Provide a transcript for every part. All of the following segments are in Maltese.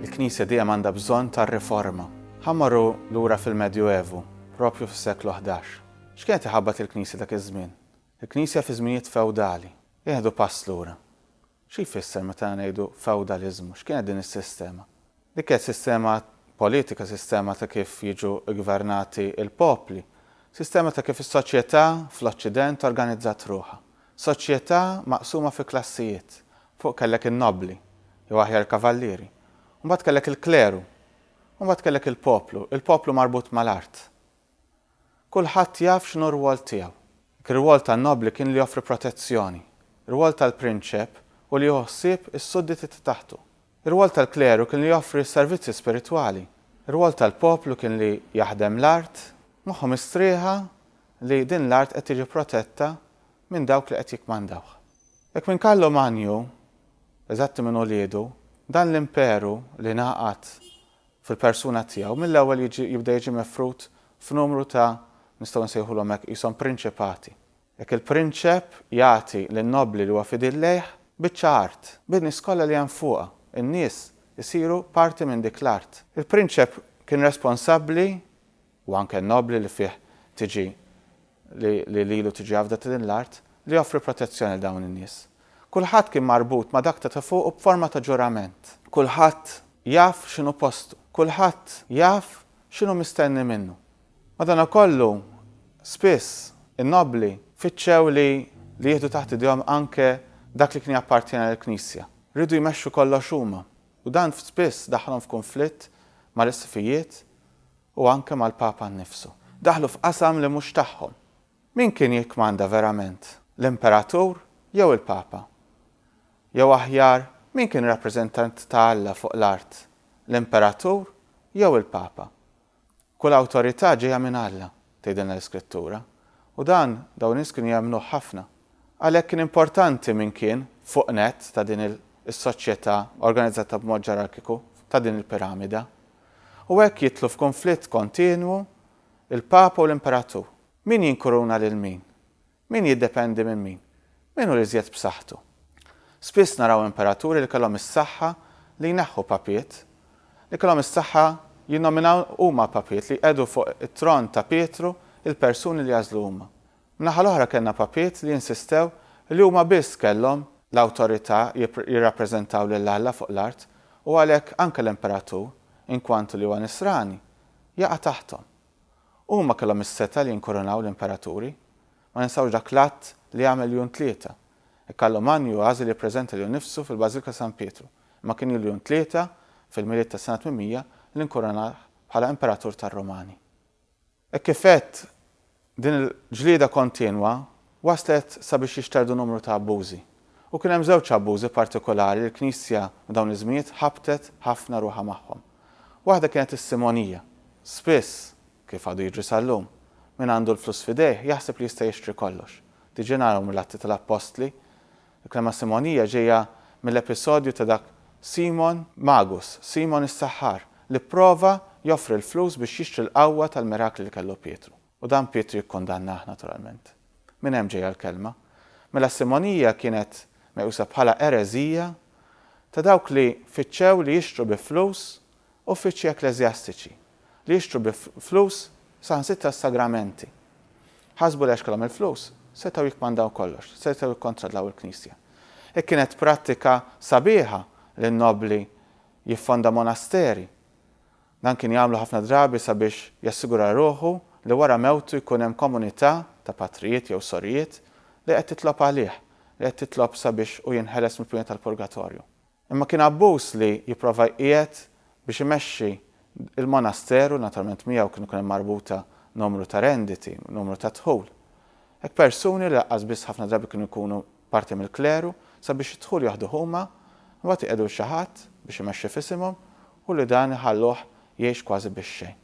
Il-Knisja dejjem għandha bżonn ta' riforma. Ħa mmorru lura fil-Medjuevu, proprju fis-seklu ħdax. X'kienet iħabbat il-Knisja dak iż-żmien? Il-Knisja fi żminijiet fewdali. Nieħdu pass lura. Xi jfisser meta ngħidu fewdaliżmu? X'kienet din is-sistema? Dik kienet sistema politika, sistema ta' kif jiġu ggvernati l-popli, sistema ta' kif is-soċjetà fl-Oċċident organizzat ruħha. Soċjetà maqsuma fi klassijiet, Fuq kellek in-nobbli, jew aħjar il-kavallieri. U mbagħad kellek il-kleru. U mbagħad kellek il-poplu. Il-poplu marbut mal-art. Kulħadd jaf x'inhu r-rwol tiegħu. Dak ir-rwol tan-nobbli kien li joffri protezzjoni. Ir-rwol tal-prinċep hu li jieħu ħsieb is-sudditi ta' taħtu. Ir-rwol tal-kleru kien li joffri s-servizzi spiritwali. Ir-rwol tal-poplu kien li jaħdem l-art, moħħu mistrieħa li din l-art qed tiġi protetta minn dawk li qed jikkmandawha. Jekk minn Kallu Magnu, eżatti minn uliedu, dan l-imperu li ngħaqad fil-persuna tiegħu mill-ewwel jiġi jibda jiġi mifrud f'numru ta' nistgħu nsejħulhom hekk qishom prinċipati. Jekk il-prinċep jagħti lin-nobbli li huwa fidil lejh biċċa art, bin-nies kollha li hemm fuqha, in-nies isiru parti minn dik l-art. Il-prinċep kien responsabbli Hu anke n-nobbli li fih tiġi li li lilu tiġi għavda ta' din l-art, li joffri protezzjoni lil dawn in-nies. Kulħadd kien marbut ma' dak ta' ta' fuqu b'forma ta' ġurament. Kulħadd jaf x'inhu postu. Kulħadd jaf x'inhu mistenni minnu. Madankollu, spiss, in-nobbli fittxew li li jieħdu taħt idejhom anke dak li kien jappartjena lill-Knisja. Riedu jmexxu kollox huma, u dan spiss daħħalhom f'kunflitt mal-isqfijiet u anke mal-Papa nnifsu, daħlu f'qasam li mhux tagħhom. Min kien jikkmanda verament, l-Imperatur jew il-Papa? Jew aħjar, min kien rappreżentant ta' Alla fuq l-art, l-Imperatur jew il-Papa? Kull awtorità ġejja minn Alla, tgħidilna l-Iskrittura, u dan dawn in-nies kienu jemmnuh ħafna. Għalhekk kien importanti min kien fuq nett ta' din is-soċjetà organizzata b'mod ġerarkiku ta' din il-piramida. u hekk jidħlu f'kunflitt kontinwu l-Papa u l-Imperatur. Min jinkuruna lil min? Min jiddependi minn min? Min hu l-iżjed b'saħħtu? Spiss naraw imperaturi li kellhom is-saħħa li jneħħu papiet, li kellhom is-saħħa jinnominaw huma papiet, li jqiegħdu fuq it-tron ta' Pietru l-persuni li jagħżlu huma. Min-naħa l-oħra kellna papiet li insistew li huma biss kellhom l-awtorità jirrappreżentaw lil Alla fuq l-art u għalhekk anke l-imperatur, inkwantu li huwa nisrani, jaqa' taħthom. Huma kellhom is-setgħa li jinkurunaw l-imperaturi. Ma ninsewx dak l-att li għamel Jun Tlieta. Hekk Allu Manju għażel jippreżenta lilu nnifsu fil-Bażilika ta' San Pietru, imma kien Jul Jun Tlieta, fil-Milied tas-sena 800, li nkurunah bħala imperatur tar-Rumani. Hekk kif għedt, din il-ġlieda kontinwa wasslet sabiex jixterdu numru ta' abbużi. U kien hemm żewġ abbużi partikolari li l-Knisja f'dawn iż-żminijiet ħabbtet ħafna ruħha magħhom. Waħda kienet is-simonija. Spiss, kif għadu jiġri sal-lum, min għandu l-flus f'idejh jaħseb li jista' jixtri kollox. Diġà naraw mill-Atti tal-Appostli Il-kelma Simonija ġejja mill-episodju ta' dak Simon Magus, Simon is-saħħar, li pprova joffri l-flus biex jixtri l-qawwa tal-mirakli li kellu Pietru. U dan Pietru jikkundannah, naturalment. Minn hemm ġejja l-kelma. Mela s-Simonija kienet meqjusa bħala ereżija ta' dawk li fittxew li jixtru bi flus uffiċċji ekkleżjastiċi, li jixtru bi flus saħansitra s-sagramenti. Ħasbu li għax kellhom il-flus, setgħu jikkmandaw kollox, setgħu jikkontradlaw il-Knisja. Hi kienet prattika sabiħa li n-nobbli jiffonda monasteri. Dan kien jagħmlu ħafna drabi sabiex jassigura ruħu li wara mewtu jkun hemm komunità ta' patrijiet jew sorijiet li qed titlob għalih, li qed titlob sabiex hu jinħeles mill-pjuna tal-purgatorju. Imma kien abbuż li jipprova jqiegħed biex imexxi l-monasteru, naturalment miegħu kienu jkun hemm marbuta numru ta' renditi, numru ta' dħul. Hekk persuni li laqqas biss ħafna drabi kienu jkunu parti mill-kleru, sabiex id-dħul jaħduh huma, imbagħad iqiegħdu lil xi ħadd biex imexxi f'isimhom u li dan iħalluh jgħix kważi bix-xejn.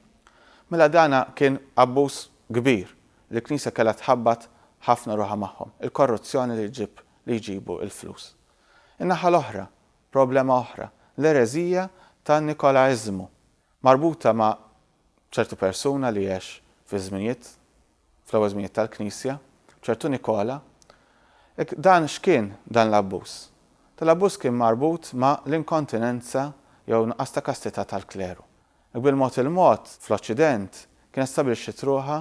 Mela dan kien abbuż kbir li l-Knisja kellha tħabbat ħafna ruħha magħhom, il-korruzzjoni li ġġib li jġibu l-flus. In-naħa l-oħra, problema oħra, l-ereżija tan-Nikolaiżmu, marbuta ma' ċertu persuna li għex fiż-żminijiet, fl-ewwel żminijiet tal-Knisja, ċertu Nikola. Dan x'kien dan l-abbuż? Dan l-abbuż kien marbut ma' l-inkontinenza jew nuqqas ta' kastità tal-kleru. Bil-mod il-mod, fl-Oċċident, kienet stabbilixxiet ruħha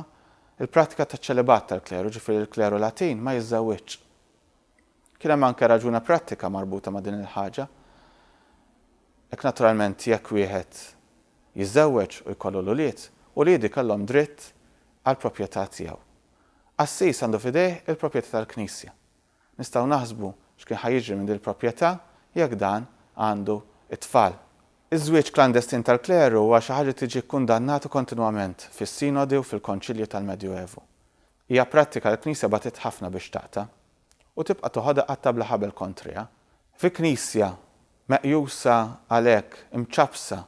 l-prattika taċ-ċelibat tal-kleru, jiġifieri li l-kleru Latin ma jiżżewwiġx. Kien hemm anke raġuna prattika marbuta ma' din il-ħaġa. Hekk naturalment jekk wieħed jiżżewweġ u jkollu l-ulied, uliedi kellhom dritt għall-proprjetà tiegħu. Qassis għandu f'idejh il-proprjetà tal-Knisja. Nistgħu naħsbu x'kien ħa jiġri minn din il-proprjetà jekk dan għandu t-tfal. Iż-żwieġ klandestin tal-kleru huwa xi ħaġa li tiġi kkundannatu kontinwament fis-sinodi u fil-konċilji tal-Medjuevu. Hija prattika li l-Knisja bagħtiet ħafna biex taqta', u tibqa' toħodha qatta' bla ħabel kontriha. Fi Knisja meqjusa għalhekk imċappsa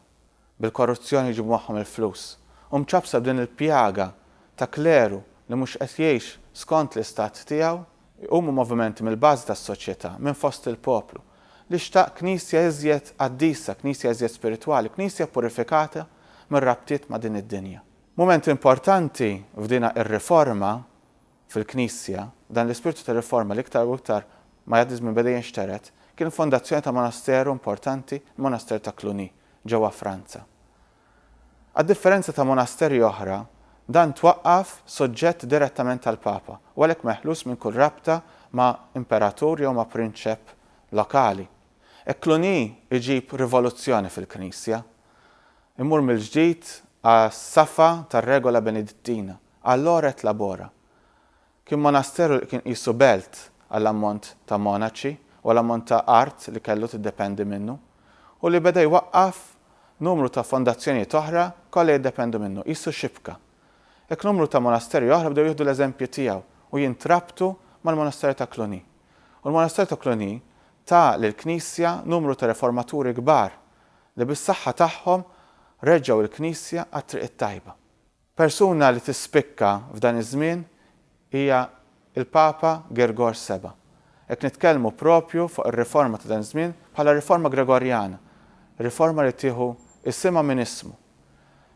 bil-korruzzjoni jġibu magħhom il-flus, u mċappsa b'din il-pjaga ta' kleru li mhux qed jgħix skont l-istat tiegħu, jqumu movimenti mill-bażi tas-soċjetà, minn fost il-poplu, li xtaq Knisja iżjed qaddisa, Knisja iżjed spiritwali, Knisja purifikata mir-rabtiet ma' din id-dinja. Mument importanti f'dina ir-riforma fil-Knisja, dan l-ispirtu ta' riforma li iktar u iktar ma jgħaddi ż-żmien beda jinxtered, kien il-fondazzjoni ta' monasteru importanti, il-Monaster ta' Cluny, ġewwa Franza. Għad-differenza ta' monasteri oħra, dan twaqqaf soġġett direttament għall-Papa u għalhekk meħlus minn kull rabta ma' imperatur jew ma' prinċep lokali. E Cluny iġib rivoluzzjoni fil-Knisja. Immur mill-ġdid għas-safa tar-regola benedittina, għall-ora et labora. Kien monasteru li kien qisu belt għall-ammont ta' monaċi u għall-ammont ta' art li kellu tiddependi minnu, u li beda jwaqqaf numru ta' fondazzjonijiet oħra kollha jiddependu minnu, qisu xibka. Hekk numru ta' monasteri oħra bdew jieħdu l-eżempju tiegħu u jintrabtu mal-monasteru ta' Cluny. U l-monasteru ta' Cluny ta lill-Knisja numru ta' riformaturi kbar li bis-saħħa tagħhom reġġgħu l-Knisja għat-triq it-tajba. Persuna li tispikka f'dan iż-żmien hija l-Papa Gergor Seba'. Qed nitkellmu proprju fuq ir-riforma ta' dan iż-żmien bħala riforma Gregorjana, riforma li tieħu isimha minn ismu.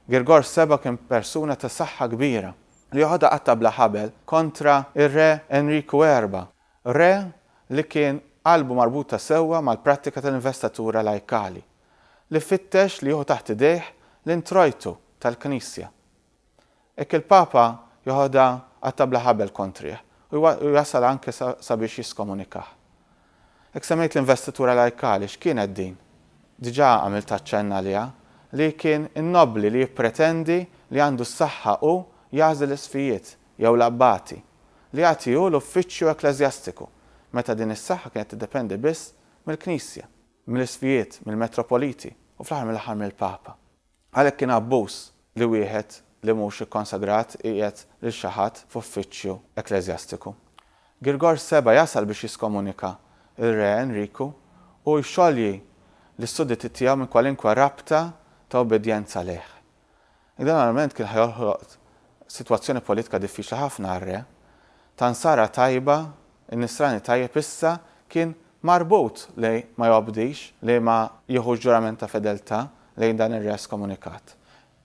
Gergor Seba' kien persuna ta' saħħa kbira, li joħodha qatta' bla ħabel kontra r-Re Enriku Erba', Re li kien qalbu marbuta sewwa mal-prattika tal-investatura lajkali, li fittex li jieħu taħt idejh l-introjtu tal-Knisja. Hekk il-Papa jeħodha qatta' bla ħabel kontrih u jasal anke sabiex jiskomunikah. Hekk semmejt l-investitura lajkali, x'kienet din? Diġà għamilt aċċenn għaliha li kien in-nobbli li jippretendi li għandu s-saħħa hu jagħżel l-isfijiet, jew l-abbati, li jagħtihu l-uffiċċju ekkleżjastiku, meta din is-saħħa kienet tiddependi biss mill-Knisja, mill-isqfijiet, mill-metropoliti, u fl-aħħar mill-aħħar mill-Papa. Għalhekk kien abbuż li wieħed li mhux ikkonsagrat iqiegħed lil xi ħadd f'uffiċċju ekkleżjastiku. Girgor Seba' jasal biex jiskomunika r-Re Enriku u jxolji lis-sudditi tiegħu minn kwalinkwe rabta ta' ubbidjenza lejh. Li dan armament kien ħa joħloq sitwazzjoni politika diffiċli ħafna għar-re, ta' nsara tajba, in-nisrani tajjeb issa kien marbut li ma jobdix, li ma jieħux ġurament ta' fedeltà lejn dan ir-re eskomunikat.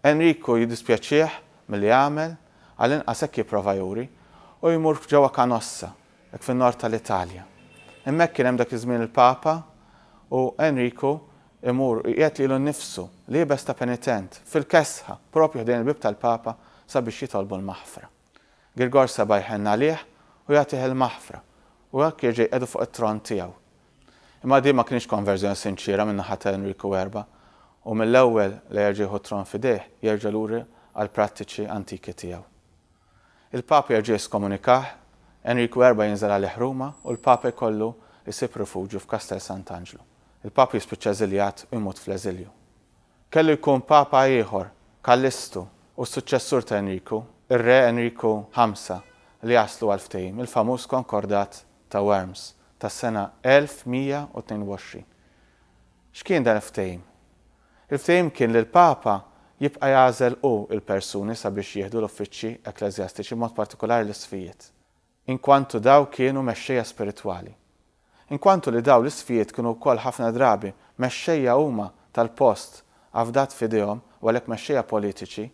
Enriku jiddispjaċih milli għamel, għall-inqas hekk jipprova juri, u jmur ġewwa Canossa, dak fin-Nord tal-Italja. Hemmhekk kien hemm dak iż-żmien il-Papa u Enriku Imur, iqiegħed lilu nnifsu, liebes ta' penitent, fil-kesħa, proprju ħdejn il-bieb tal-Papa sabiex jitolbu l-maħfra. Girgor seba' jħenn għalih u jagħtih il-maħfra, u hekk jerġa' jqiegħdu fuq it-tron tiegħu. Imma din ma kinitx konverżjoni sinċiera min-naħa ta' Enriku Erba', u mill-ewwel la jerġa' jieħu t-tron f'idejh, jerġa' lura għall-prattiċi antiki tiegħu. Il-Papa jerġa' jeskomunikah, Enriku Erba' jinżel għalih Ruma u l-Papa jkollu jsib rifuġju f'Kastell Sant'Anġlu. Il-Papa jispiċċa eżiljat u jmut fl-eżilju. Kellu jkun Papa ieħor, Kallistu, u s-suċċessur ta' Enriku, ir-Re Enriku Ħamsa, li jaslu għall-ftehim, il-famuż Konkordat ta' Worms tas-sena 1122. X'kien dan il-ftehim? Il-ftehim kien li l-Papa jibqa' jagħżel hu l-persuni sabiex jieħdu l-uffiċċji ekkleżjastiċi b'mod partikolari l-isqfijiet, inkwantu daw kienu mexxejja spiritwali. Inkwantu li daw l-isqfijiet kienu wkoll ħafna drabi mexxejja huma tal-post afdat f'idejhom u għalhekk mexxejja politiċi,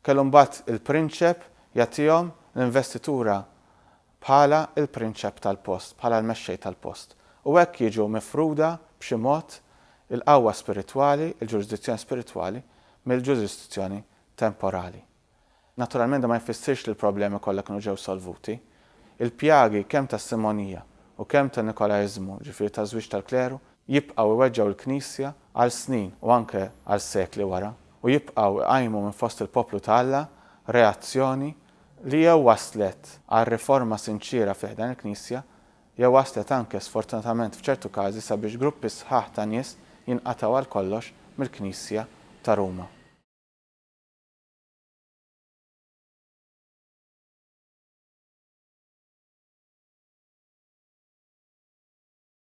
Kellu mbagħad il-prinċep jagħtihom l-investitura bħala l-prinċep tal-post, bħala l-mexxej tal-post. U hekk jiġu mifruda b'xi mod il-qawwa spiritwali, il-ġurisdizzjoni spiritwali mill-ġurisdizzjoni temporali. Naturalment dan ma jfissirx li l-problemi kollha kienu ġew solvuti. Il-pjagi kemm tas-simonija u kemm tan-nikolaiżmu, jiġifieri taż-żwieġ tal-kleru, jibqgħu jweġġgħu l-Knisja għal snin u anke għal sekli wara, u jibqgħu jqajmu minn fost il-poplu ta' Alla reazzjoni li jew wasslet għal riforma sinċiera fi ħdan il-Knisja, jew wasslet anke sfortunatament f'ċertu każi sabiex gruppi sħaħ ta' nies jinqatgħu għal kollox mill-Knisja ta' Ruma.